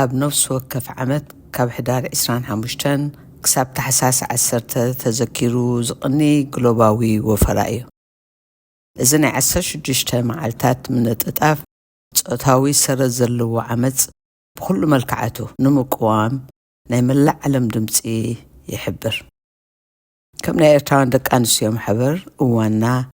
ኣብ ነፍሲ ወከፍ ዓመት ካብ ሕዳር ዕስራን ሓሙሽተን ክሳብ ታሕሳስ ዓሰርተ ተዘኪሩ ዝቕኒ ግሎባዊ ወፈራ እዩ። እዚ ናይ ዓሰርተ ሽዱሽተ መዓልታት ምንጥጣፍ ጾታዊ ሰረት ዘለዎ ዓመጽ ብኹሉ መልክዓቱ ንምቅዋም ናይ መላእ ዓለም ድምጺ ይሕብር። ከም ናይ ኤርትራውያን ደቂ ኣንስትዮ ማሕበር እዋንና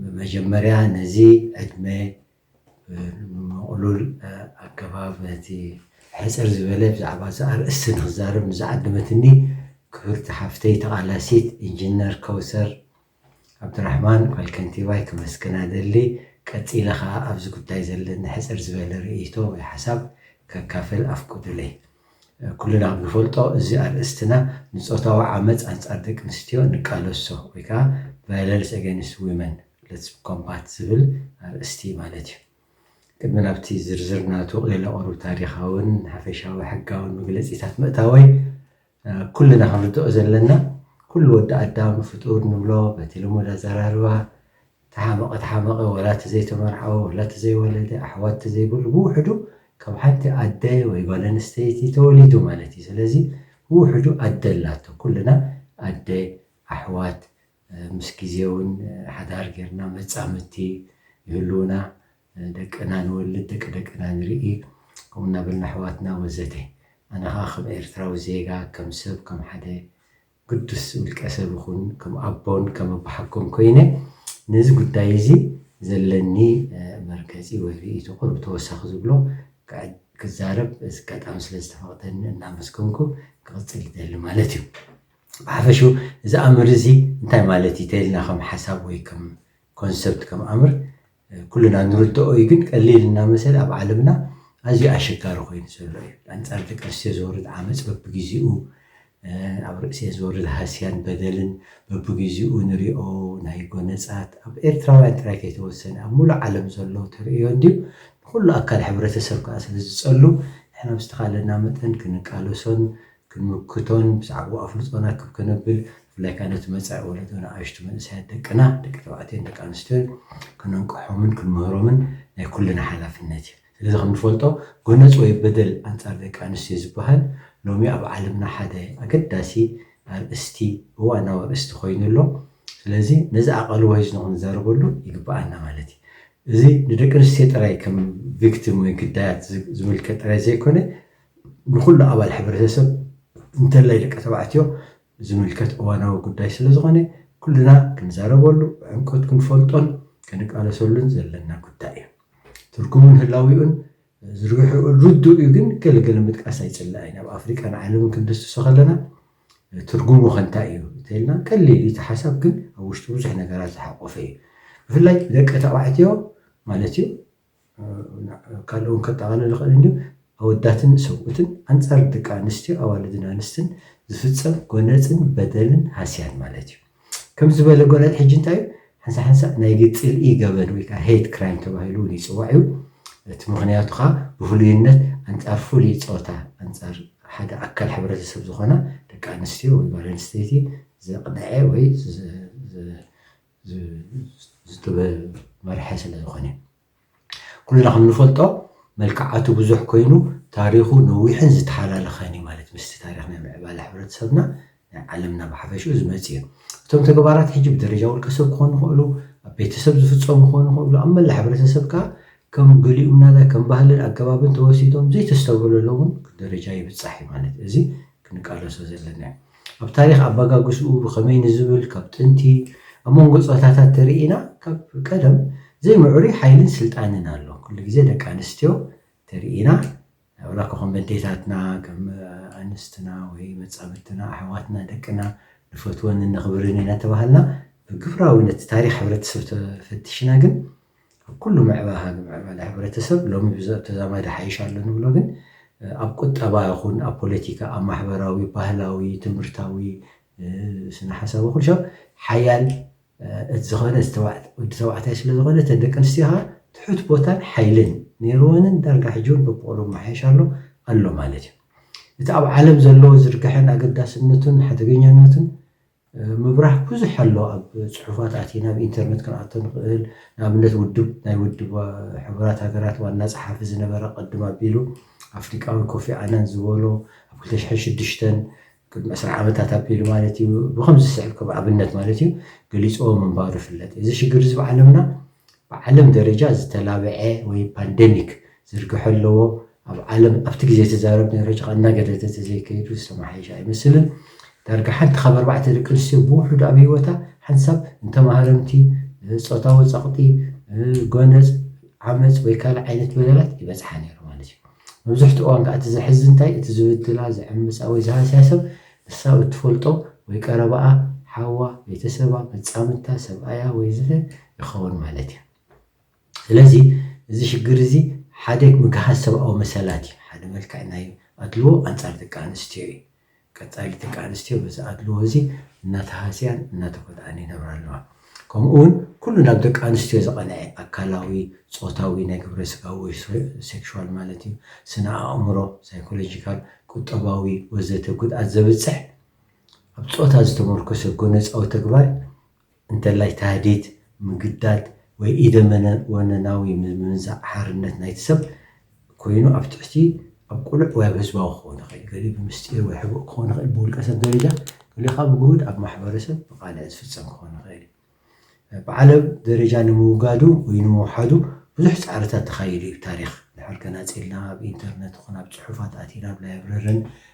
ብመጀመርያ ነዚ ዕድመ ብምቕሉል ኣገባብ ነቲ ሕጽር ዝበለ ብዛዕባ እዚ ኣርእስቲ ንክዛረብ ንዝዓደመትኒ ክብርቲ ሓፍተይ ተቓላሲት ኢንጂነር ከውሰር ዓብዱራሕማን ጓል ከንቲባይ ከመስግና እደሊ። ቀጺለ ከኣ ኣብዚ ጉዳይ ዘለኒ ሕጽር ዝበለ ርእይቶ ወይ ሓሳብ ከካፍል ኣፍቁዱለይ። ኩልና ብንፈልጦ እዚ ኣርእስትና ንጾታዊ ዓመጽ ኣንጻር ደቂ ኣንስትዮ ንቃለሶ ወይ ከኣ Violence Against Women፣ Let's Combat ዝብል ኣርእስቲ ማለት እዩ። ቅድሚ ናብቲ ዝርዝር ናቱ ቚለ ቁሩብ ታሪኻውን ሓፈሻዊ ሕጋውን መግለጺታት ምእታወይ፣ ኩልና ክንርድኦ ዘለና ኩሉ ወዲ ኣዳም ፍጡር ንብሎ በቲ ልሙድ ኣዘራርባ፣ ተሓመቐ ተሓመቐ ወላ እቲ ዘይተመርዓወ ወላ እቲ ዘይወለደ ኣሕዋት ተዘይብሉ ብውሕዱ ካብ ሓንቲ ኣደ ወይ ጓል ኣንስተይቲ ተወሊዱ ማለት እዩ ስለዚ ብውሕዱ ኣደ ኣላቶ ኩልና ኣደ ኣሕዋት ምስ ግዜ እውን ሓዳር ጌርና መጻምድቲ ይህልዉና ደቅና ንወልድ ደቂ ደቅና ንርኢ ከምኡ እናበልና ኣሕዋትና ወዘተ ኣነ ከኣ ከም ኤርትራዊ ዜጋ ከም ሰብ ከም ሓደ ግዱስ ውልቀ ሰብ እኹን ከም ኣቦን ከም ኣቦሓጎን ኮይነ ነዚ ጉዳይ እዚ ዘለኒ መርገጺ ወይ ርእይቶ ቁሩብ ተወሳኺ ዝብሎ ክዛረብ እዚ ኣጋጣሚ ስለ ዝተፈቕደኒ እናመስገንኩ ክቕጽል ይደሊ ማለት እዩ። ብሓፈሽኡ እዚ ኣምር እዚ እንታይ ማለት እዩ ተይልና ከም ሓሳብ ወይ ከም ኮንሰፕት ከም ኣምር ኩልና ንርደኦ እዩ ግን ቀሊል እናመሰለ ኣብ ዓለምና ኣዝዩ ኣሸጋሪ ኮይኑ ዘሎ እዩ። ኣንጻር ደቂ ኣንስትዮ ዝወርድ ዓመጽ በብግዜኡ ኣብ ርእሲኤን ዝወርድ ሃስያን በደልን በብግዜኡ ንሪኦ ናይ ጎነጻት ኣብ ኤርትራውያን ጥራይ ከይተወሰነ ኣብ ምሉእ ዓለም ዘሎ ተርእዮ እንድዩ ንኹሉ ኣካል ሕብረተሰብ ከኣ ስለ ዝጸሉ ንሕና ብዝተኻለና መጠን ክንቃለሶን ክንምክቶን ብዛዕብኡ ኣፍልጦና ክብ ከነብል ብፍላይ ከኣ ነቲ መጻኢ ወለዶ ንኣሽቱ መንእሰያት ደቅና ደቂ ተባዕትዮን ደቂ ኣንስትዮን ከነንቅሖምን ክንምህሮምን ናይ ኩልና ሓላፍነት እዩ። ስለዚ ከምንፈልጦ ጎነጽ ወይ በደል ኣንጻር ደቂ ኣንስትዮ ዝበሃል ሎሚ ኣብ ዓለምና ሓደ ኣገዳሲ ኣርእስቲ እዋናዊ ኣርእስቲ ኮይኑ ኣሎ። ስለዚ ነዚ ኣቓልቦ ሒዝኖ ክንዛረበሉ ይግበኣና ማለት እዩ። እዚ ንደቂ ኣንስትዮ ጥራይ ከም ቪክቲም ወይ ግዳያት ዝምልከት ጥራይ ዘይኮነ ንኹሉ ኣባል ሕብረተሰብ እንተላይ ደቂ ተባዕትዮ ዝምልከት እዋናዊ ጉዳይ ስለዝኾነ ኩልና ክንዛረበሉ፣ ብዕምቆት ክንፈልጦን ክንቃለሰሉን ዘለና ጉዳይ እዩ። ትርጉሙን ህላዊኡን ዝርግሕኡን ርዱእ እዩ ግን ገለ ገለ ምጥቃስ ኣይጽላእን። ኣብ ኣፍሪቃን ዓለምን ክንድስሶ ከለና ትርጉሙ ከ እንታይ እዩ እንተኢልና ቀሊል እዩ እቲ ሓሳብ ግን ኣብ ውሽጡ ብዙሕ ነገራት ዝሓቆፈ እዩ። ብፍላይ ደቂ ተባዕትዮ ማለት እዩ ካልእ እውን ከጠቓልል ይኽእል እንድዩ፣ ኣወዳትን ሰብኡትን ኣንጻር ደቂ ኣንስትዮ፣ ኣዋልድን ኣንስትን ዝፍጸም ጎነጽን በደልን ሃስያን ማለት እዩ። ከምዚ ዝበለ ጎነጽ ሕጂ እንታይ እዩ? ሓንሳእ-ሓንሳእ ናይ ጽልኢ ገበን ወይ ከኣ ሄይት ክራይም ተባሂሉ እውን ይጽዋዕ እዩ። እቲ ምኽንያቱ ከኣ ብፍሉይነት ኣንጻር ፍሉይ ጾታ፣ ኣንጻር ሓደ ኣካል ሕብረተሰብ ዝኾና ደቂ ኣንስትዮ ወይ ጓል ኣንስተይቲ ዘቕነዐ ወይ ዝተመርሐ ስለ ዝኾነ። ኩልና ከም ንፈልጦ መልክዓቱ ብዙሕ ኮይኑ ታሪኹ ነዊሕን ዝተሓላለኸን እዩ ማለት ምስቲ ታሪኽ ናይ ምዕባለ ሕብረተሰብና ናይ ዓለምና ብሓፈሽኡ ዝመጽእ እዩ። እቶም ተግባራት ሕጂ ብደረጃ ውልቀሰብ ክኾኑ ይኽእሉ፣ ኣብ ቤተሰብ ዝፍጸሙ ክኾኑ ይኽእሉ፣ ኣብ መላእ ሕብረተሰብ ከኣ ከም ገሊኡም ናዳ ከም ባህልን ኣገባብን ተወሲዶም ዘይተስተብህለሎም እውን ደረጃ ይብጻሕ እዩ ማለት እዚ ክንቃለሶ ዘለና እዩ። ኣብ ታሪኽ ኣበጋግስኡ ብኸመይ ንዝብል ካብ ጥንቲ ኣብ መንጎ ጾታታት ተርኢና ካብ ቀደም ዘይምዕሩይ ሓይልን ስልጣንን ኣሎ። ኩሉ ግዜ ደቂ ኣንስትዮ ተርኢና ዋላኳ ከም ኣዴታትና ከም ኣንስትና ወይ መጻምድትና ኣሕዋትና ደቅና ንፈትወን እነኽብርን እናተባሃልና ብግብራዊ ነቲ ታሪኽ ሕብረተሰብ ተፈቲሽና ግን ኣብ ኩሉ ምዕባሃግ ምዕባለ ሕብረተሰብ ሎሚ ብዚ ኣብ ተዛማዲ ይሓይሽ ኣሎ ንብሎ ግን ኣብ ቁጠባ ይኹን ኣብ ፖለቲካ ኣብ ማሕበራዊ ባህላዊ ትምህርታዊ ስነ ሓሳብ ይኹን ሻብ ሓያል እቲ ዝኾነ ወዲ ተባዕታይ ስለ ዝኾነ እተን ደቂ ኣንስትዮ ኸኣ ትሑት ቦታን ሓይልን ነይርወንን ዳርጋ ሕጂ እውን በብቑሩብ ይመሓየሽ ኣሎ ኣሎ ማለት እዩ እቲ ኣብ ዓለም ዘለዎ ዝርግሐን ኣገዳስነቱን ሓደገኛነቱን ምብራህ ብዙሕ ኣሎ ኣብ ጽሑፋት ኣቲና ኣብ ኢንተርነት ክንኣቶ ንኽእል ንኣብነት ውድብ ናይ ውድብ ሕቡራት ሃገራት ዋና ጸሓፊ ዝነበረ ቅድም ኣቢሉ ኣፍሪቃዊ ኮፊ ኣናን ዝበሎ ኣብ ክልተ ሽሕን ሽዱሽተን ቅድሚ ዕስራ ዓመታት ኣቢሉ ማለት እዩ ብኸምዚ ዝስዕብ ከም ኣብነት ማለት እዩ ገሊጽዎ ምንባሩ ይፍለጥ እዩ እዚ ሽግር እዚ ብዓለምና ብዓለም ደረጃ ዝተላበዐ ወይ ፓንደሚክ ዝርግሐ ኣለዎ። ኣብ ዓለም ኣብቲ ግዜ ትዛረብ ነይሮ ጭቃ እናገደደ ተዘይከይዱ ዝተመሓየሸ ኣይመስልን። ዳርጋ ሓንቲ ካብ ኣርባዕተ ደቂ ኣንስትዮ ብውሑዱ ኣብ ህይወታ ሓንሳብ ንተማሃረምቲ፣ ጾታዊ ጸቕጢ፣ ጎነጽ፣ ዓመጽ ወይ ካልእ ዓይነት በደላት ይበጽሓ ነይሩ ማለት እዩ። መብዝሕትኡ እዋን ከኣ እቲ ዘሕዝን እንታይ እቲ ዝብድላ፣ ዝዕምጻ ወይ ዝሃስያ ሰብ ንሳ ኣብ እትፈልጦ ወይ ቀረባኣ፣ ሓዋ፣ ቤተሰባ፣ መጻምድታ፣ ሰብኣያ ወይ ዝተ፣ ይኸውን ማለት እዩ። ስለዚ እዚ ሽግር እዚ ሓደ ምግሃስ ሰብኣዊ መሰላት እዩ፣ ሓደ መልክዕ ናይ ኣድልዎ ኣንጻር ደቂ ኣንስትዮ እዩ። ቀጻሊ ደቂ ኣንስትዮ በዚ ኣድልዎ እዚ እናተሃስያን እናተጎድኣን ይነብራ ኣለዋ። ከምኡ እውን ኩሉ ናብ ደቂ ኣንስትዮ ዝቐንዐ ኣካላዊ፣ ጾታዊ፣ ናይ ግብረ ስጋዊ ወይ ሴክሹዋል ማለት እዩ፣ ስነ ኣእምሮ፣ ሳይኮሎጂካል፣ ቁጠባዊ ወዘተ ጉድኣት ዘብጽሕ ኣብ ጾታ ዝተሞርኮሰ ጎነጻዊ ተግባር እንተላይ ታህዲድ፣ ምግዳድ ወይ ኢደወነናዊ ምምንዛዕ ሓርነት ናይቲ ሰብ ኮይኑ ኣብ ትሕቲ ኣብ ቅሉዕ ወይ ኣብ ህዝባዊ ክኸውን ይኽእል እዩ፣ ገሊኡ ብምስጢር ወይ ሕቡእ ክኸውን ይኽእል፣ ብውልቀ ሰብ ደረጃ፣ ገሊኡ ከኣ ብግሁድ ኣብ ማሕበረሰብ ብቓልዕ ዝፍጸም ክኸውን ይኽእል እዩ። ብዓለም ደረጃ ንምውጋዱ ወይ ንምውሓዱ ብዙሕ ጻዕርታት ተኻይዱ እዩ፣ ታሪኽ ድሕር ከናጽልና ኣብ ኢንተርነት ይኹን ኣብ ጽሑፋት ኣቲና ኣብ ላይብረርን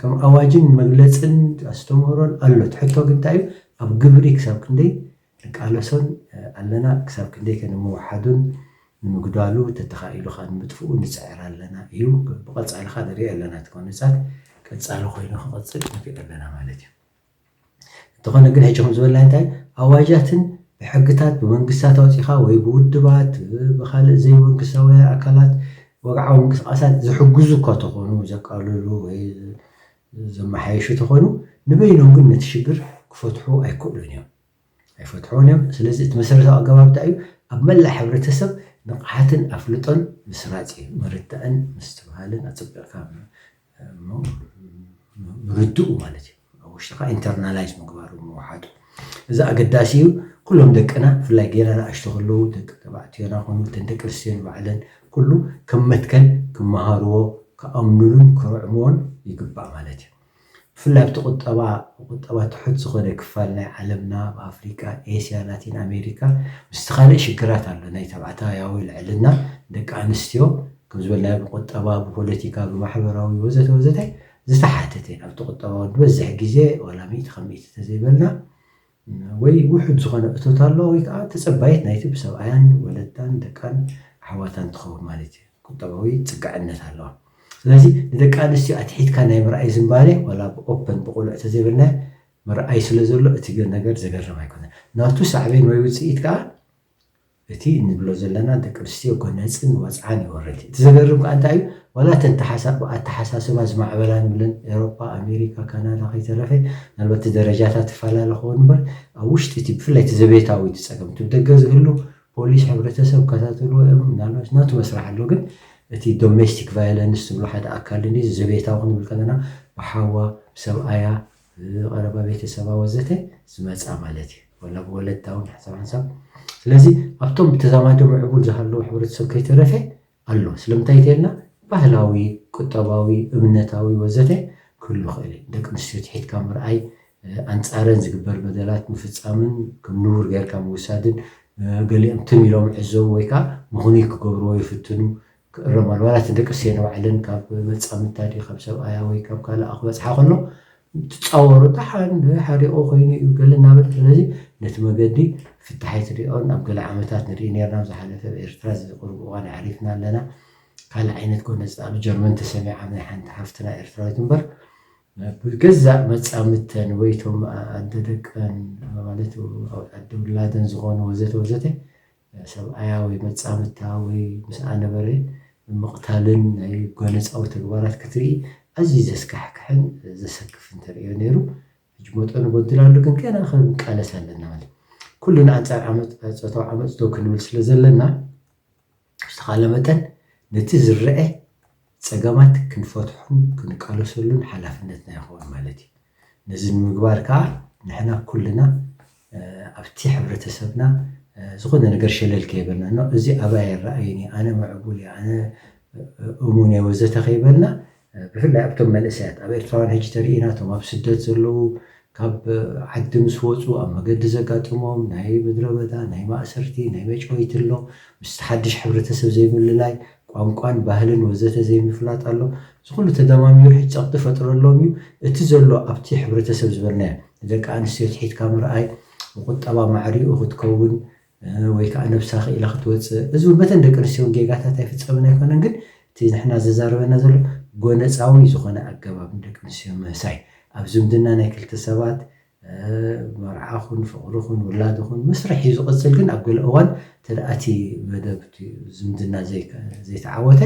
ከም ኣዋጅን መግለጽን ኣስተምህሮን ኣሎ እቲ ሕቶ ግን እንታይ እዩ ኣብ ግብሪ ክሳብ ክንደይ ንቃለሶን ኣለና ክሳብ ክንደይ ከ ንምውሓዱን ንምጉዳሉ ተተኻኢሉ ከኣ ንምጥፍኡ ንጽዕር ኣለና እዩ ብቐጻሊ ከኣ ንርእዮ ኣለና እቲ ጎነጻት ቀጻሊ ኮይኑ ክቕጽል ንርኢ ኣለና ማለት እዩ። እንተኾነ ግን ሕጂ ከም ዝበልናዮ እንታይ ኣዋጃትን ብሕግታት ብመንግስታት ኣውጺኻ ወይ ብውድባት ብኻልእ ዘይመንግስታውያን ኣካላት ወግዓዊ ምንቅስቓሳት ዝሕግዙ እኳ ተኾኑ ዘቃልሉ ወይ ዘመሓየሹ ተኾኑ ንበይኖም ግን ነቲ ሽግር ክፈትሑ ኣይክእሉን እዮም ኣይፈትሑን እዮም ስለዚ እቲ መሰረታዊ ኣገባብ እንታይ እዩ ኣብ መላእ ሕብረተሰብ ንቕሓትን ኣፍልጦን ምስራጽ እዩ ምርዳእን ምስትብሃልን ኣጸቢቕካ እሞ ምርድኡ ማለት እዩ ኣብ ውሽጥኻ ኢንተርናላይዝ ምግባሩ ምውሓጡ እዚ ኣገዳሲ እዩ ኩሎም ደቅና ብፍላይ ገና ንኣሽቱ ከለዉ ደቂ ተባዕትዮና ኮኑ እተን ደቂ ኣንስትዮ ንባዕለን ኩሉ ከም መትከል ክመሃርዎ ክኣምንሉን ክርዕምዎን ይግባእ ማለት እዩ ብፍላይ ኣብቲ ቁጠባ ቁጠባ ትሑት ዝኾነ ክፋል ናይ ዓለምና ኣብ ኣፍሪቃ ኤስያ ላቲን ኣሜሪካ ምስቲ ካልእ ሽግራት ኣሎ ናይ ተባዕታያዊ ልዕልና ደቂ ኣንስትዮ ከም ዝበልናዮ ብቁጠባ፣ ብፖለቲካ፣ ብማሕበራዊ ወዘተ ወዘተ ዝተሓተተ እዩ። ናብቲ ቁጠባዊ ዝበዝሕ ግዜ ዋላ ሚእቲ ካብ ሚእቲ ተዘይበልና ወይ ውሑድ ዝኾነ እቶት ኣሎ ወይ ከዓ ተፀባይት ናይቲ ብሰብኣያን ወለዳን ደቃን ኣሕዋታን ትኸውን ማለት እዩ። ቁጠባዊ ፅግዕነት ኣለዋ። ስለዚ ንደቂ ኣንስትዮ ኣትሒትካ ናይ ምርኣይ ዝንባሌ ዋላ ብኦፐን ብቁልዕ ተዘይበልናዮ ምርኣይ ስለዘሎ እቲ ነገር ዘገርም ኣይኮነን። ናቱ ሳዕቤን ወይ ውፅኢት ከዓ እቲ እንብሎ ዘለና ደቂ ኣንስትዮ ጎነጽን ወጽዓን ይወርድ እዩ። እቲ ዘገርም ከኣ እንታይ እዩ ዋላ እተን ተሓሳ ብኣተሓሳስባ ዝማዕበላ ንብለን ኤሮጳ ኣሜሪካ ካናዳ ከይተረፈ ምናልባት እቲ ደረጃታት ይፈላለ ክኸውን እምበር ኣብ ውሽጢ እቲ ብፍላይ እቲ ዘቤታዊ እቲ ጸገም እቲ ብደገ ዝህሉ ፖሊስ ሕብረተሰብ ክከታተልዎ እዮም ምናልባሽ ናቱ መስርሕ ኣሎ ግን እቲ ዶሜስቲክ ቫዮለንስ ዝብሎ ሓደ ኣካል እዚ ዘቤታዊ ክንብል ከለና ብሓዋ ብሰብኣያ ብቐረባ ቤተሰባ ወዘተ ዝመጻ ማለት እዩ። ወላ ብወለድታ ውን ሓንሳብ ሓንሳብ ስለዚ ኣብቶም ብተዛማዲ ምዕቡል ዝሃለዉ ሕብረተሰብ ከይተረፈ ኣሎ። ስለምንታይ እንተይልና ባህላዊ፣ ቁጠባዊ፣ እምነታዊ ወዘተ ክህሉ ይኽእል እዩ። ንደቂ ኣንስትዮ ትሒትካ ምርኣይ፣ ኣንጻረን ዝግበር በደላት ምፍጻምን ከም ንቡር ገይርካ ምውሳድን፣ ገሊኦም ትም ኢሎም ይዕዘቡ ወይ ከኣ ምኽኑይ ክገብርዎ ይፍትኑ፣ ክእረም ኣለዎ ዋላ እቲ ደቂ ኣንስትዮ ንባዕለን ካብ መጻምድታ ድዩ ካብ ሰብኣያ ወይ ካብ ካልኣ ክበጽሓ ከሎ ትጻወሮ ደሓን ሓሪቑ ኮይኑ እዩ ገለ እናበለ ስለዚ ነቲ መገዲ ፍታሕ ኣይትሪኦን ኣብ ገለ ዓመታት ንርኢ ነርና ኣብ ዝሓለፈ ኣብ ኤርትራ እዚ ቁሩብ እዋን ኣዕሪፍና ኣለና ካልእ ዓይነት ጎነጽ ኣብ ጀርመን ተሰሚዓ ናይ ሓንቲ ሓፍትና ኤርትራዊት እምበር ብገዛእ መጻምድተን ወይ እቶም ኣደ ደቀን ማለት ኣደ ውላደን ዝኾኑ ወዘተ ወዘተ ሰብኣያ ወይ መጻምድታ ወይ ምስኣ ነበረ ምቕታልን ናይ ጓነጻዊ ተግባራት ክትርኢ ኣዝዩ ዘስካሕክሕን ዘሰክፍን ተርእዮ ነይሩ። ሕጂ መጠኑ ጎዲሉ ኣሎ ግን ገና ክንቃለስ ኣለና ማለት ኩልና ኣንጻር ዓመጽ ጾታዊ ዓመጽ ደው ክንብል ስለ ዘለና ብዝተኻለ መጠን ነቲ ዝረኤ ጸገማት ክንፈትሖን ክንቃለሰሉን ሓላፍነትና ይኸውን ማለት እዩ። ነዚ ንምግባር ከኣ ንሕና ኩልና ኣብቲ ሕብረተሰብና ዝኾነ ነገር ሸለል ከይበልና ኖእ እዚ ኣባይ ኣይረኣይን እዩ፣ ኣነ ምዕቡል እየ፣ ኣነ እሙን እየ ወዘተ ከይበልና ብፍላይ ኣብቶም መንእሰያት ኣብ ኤርትራውያን ሕጂ ተሪኢናቶም ኣብ ስደት ዘለዉ ካብ ዓዲ ምስ ወጹ ኣብ መገዲ ዘጋጥሞም ናይ ምድረበዳ፣ ናይ ማእሰርቲ፣ ናይ መጭወይቲ ኣሎ፣ ምስቲ ሓድሽ ሕብረተሰብ ዘይምልላይ፣ ቋንቋን ባህልን ወዘተ ዘይምፍላጥ ኣሎ። እዚ ኩሉ ተደማሚሩ ሕጂ ጸቕጢ ፈጥረሎም እዩ። እቲ ዘሎ ኣብቲ ሕብረተሰብ ዝበልናዮ ንደቂ ኣንስትዮ ትሒትካ ምርኣይ፣ ብቁጠባ ማዕሪኡ ክትከውን ወይ ከኣ ነብሳ ክኢላ ክትወጽእ እዚ ውን በተን ደቂ ኣንስትዮ ውን ጌጋታት ኣይፍጸምን ኣይኮነን ግን እቲ ንሕና ዘዛርበና ዘሎ ጎነጻዊ ዝኾነ ኣገባብ ንደቂ ኣንስትዮ ምህሳይ ኣብ ዝምድና ናይ ክልተ ሰባት መርዓ ኹን ፍቕሪ ኹን ውላድ ይኹን መስርሕ እዩ ዝቕጽል ግን ኣብ ገለ እዋን እንተ እቲ መደብ ዝምድና ዘይተዓወተ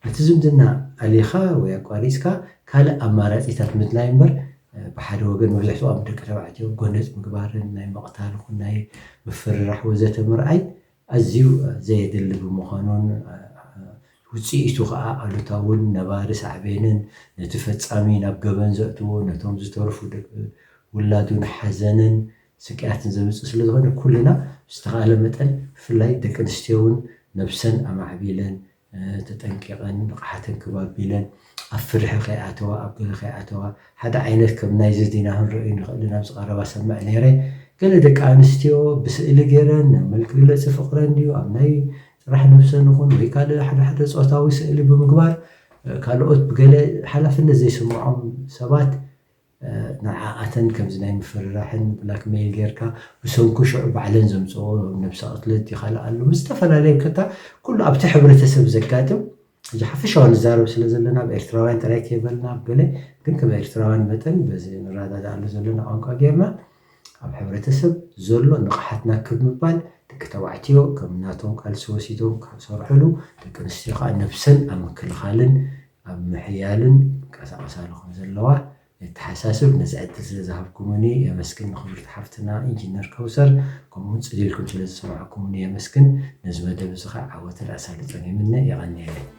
ነቲ ዝምድና ኣሊኻ ወይ ኣቋሪጽካ ካልእ ኣማራጺታት ምድላይ እምበር ብሓደ ወገን መብዛሕትኦም ደቂ ተባዕትዮ ጎነጽ ምግባርን ናይ ምቕታል ይኹን ናይ ምፍርራሕ ወዘተ ምርኣይ ኣዝዩ ዘየድሊ ብምዃኑን ውጽኢቱ ከኣ ኣሉታውን ነባሪ ሳዕቤንን ነቲ ፈጻሚ ናብ ገበን ዘእትዎ ነቶም ዝተርፉ ደቂ ውላዱን ሓዘንን ስቅያትን ዘምጽእ ስለዝኾነ ኩልና ብዝተኻእለ መጠን ብፍላይ ደቂ ኣንስትዮውን ነብሰን ኣማዕቢለን ተጠንቂቐን ንቕሓተን ክብ ኣቢለን ኣብ ፍርሒ ከይኣተዋ ኣብ ገለ ከይኣተዋ ሓደ ዓይነት ከም ናይዚ ዜና ክንርእዮ ንኽእልን ኣብዚ ቀረባ ሰምዕ ነይረ ገለ ደቂ ኣንስትዮ ብስእሊ ገይረን መልክግለጺ ፍቕረን ድዩ ኣብ ናይ ጥራሕ ነብሰን ይኹን ወይ ካልእ ሓደ ሓደ ጾታዊ ስእሊ ብምግባር ካልኦት ብገለ ሓላፍነት ዘይስምዖም ሰባት ንዓኣተን ከምዚ ናይ ምፍርራሕን ብላክ መይል ጌርካ ብሰንኩ ሽዑ ባዕለን ዘምጽኦ ነብሰ ቅትለት ይኸልኣሉ ምስ ዝተፈላለየ ከታ ኩሉ ኣብቲ ሕብረተሰብ ዘጋጥም ሕጂ ሓፈሻዊ ንዛረብ ስለ ዘለና ብ ኤርትራውያን ጥራይ ከይበልና ብ ገለ ግን ከም ኤርትራውያን መጠን በዚ ንረዳዳኣሉ ዘለና ቋንቋ ጌርና ኣብ ሕብረተሰብ ዘሎ ንቕሓትና ክብ ምባል፣ ደቂ ተባዕትዮ ከም ናቶም ቃልሲ ወሲዶም ካብ ዝሰርሕሉ፣ ደቂ ኣንስትዮ ከኣ ነብሰን ኣብ ምክልኻልን ኣብ ምሕያልን ይንቀሳቐሳሉ ከም ዘለዋ የተሓሳስብ፣ ነዚ ዕድል ስለ ዝሃብኩሙኒ የመስግን ንክብርቲ ሓፍትና ኢንጂነር ከውሰር ከምኡውን ጽሊልኩም ስለ ዝሰማዕኩሙኒ የመስግን፣ ነዚ መደብ እዚ ከኣ ዓወትን ኣሳልጦን ይምነ የቐንየለይ።